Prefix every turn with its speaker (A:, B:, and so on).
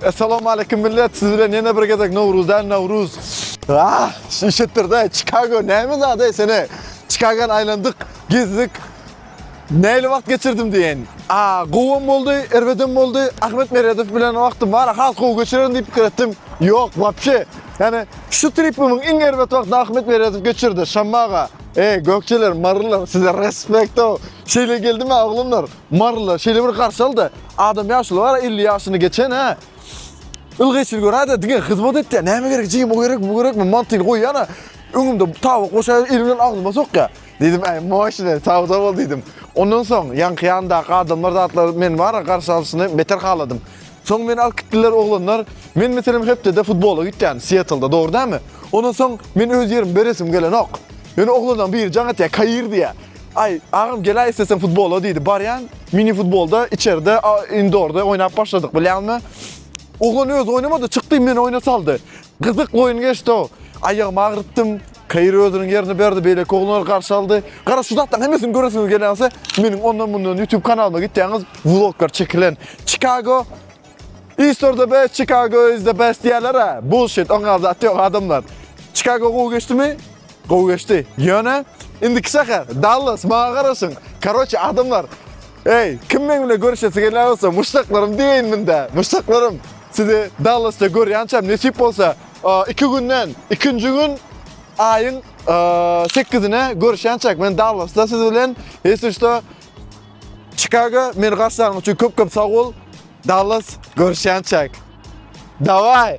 A: Essalawmaleýkim millet, siz bilen ýene bir gezek Nowruz däl, Nawruz. Ah, şu işetdirde Çikago näme zat ey sene? Çikagany aýlandyk, gezdik. Näli wagt geçirdim diýen. A, gowam boldy, erbedem boldy. Ahmet Meredow bilen wagtym bar, has gowy geçirerin diýip pikir etdim. Ýok, wapşe. Ýani şu tripimiň iň erbet wagtyny Ahmet Meredow geçirdi. Şammaga. Ey, gökjeler, marylar, size respekt-ow. Şeýle geldim-ä oglanlar. Maryly şeýle bir garşy aldy. Adam ýaşuly bar, 50 ýaşyny geçen hä. Ylgaýçyny göräýdi, diňe hyzmat etdi. Näme gerek, jigim, o gerekmi, bu gerekmi? Mantyny goýýana, öňümde tabak boşaýar, eli bilen agzyma sokýar. Diýdim, äý, moşne, sagja bol diýdim. Ondan soň ýaňky ýandaky adamlar zatlar meni bara garşy alşyny beter haladym. Soň meni alyp gitdiler oglanlar. Men meselem hepdede futbola gitýän, Sietlda, dogry dälmi? Ondan soň men öz ýerimi beresim gelenok. Ýöne oglanlaň biri jaň etýär, Kair diýýär. Aý, agam gel-aý isleseň futbola diýdi. Barýan, mini futbolda içerde, indorda oýnap başladyk. Bilýäňmi? Oglan öz oýnamady, çykdy, meni oýna saldy. Gyzyk oýun geçdi o. Aýagymy agyrytdym. Kair özüniň ýerini berdi, beýleki oglanlar garşy aldy. Gara şu zatlaryň hemmesini göresiňiz gelýänse, meniň ondan-mundan YouTube kanalyma gitýäňiz, vloglar çekilen. Çikago East or the best, Chicago is the best diýerler ha. Bullshit, oňa zat ýok adamlar. Chicago gowy geçdimi? Gowy geçdi. Ýöne indiki şäher Dallas, maňa garaşyň. Karoçe adamlar, Eý, kim meň bilen görüşesi gelýän bolsa, muşdaklarym diýeýin minde. Muşdaklarym, sizi Dallasda görýänçäm nesip bolsa, iki günden, ikinji gün aýyň sekizine görüşýänçäk men Dallasda siz bilen, ýesi şuda. Çikago meni garşylaryň üçin köp köp sag bol. Dallas görüşýänçäk. Daway!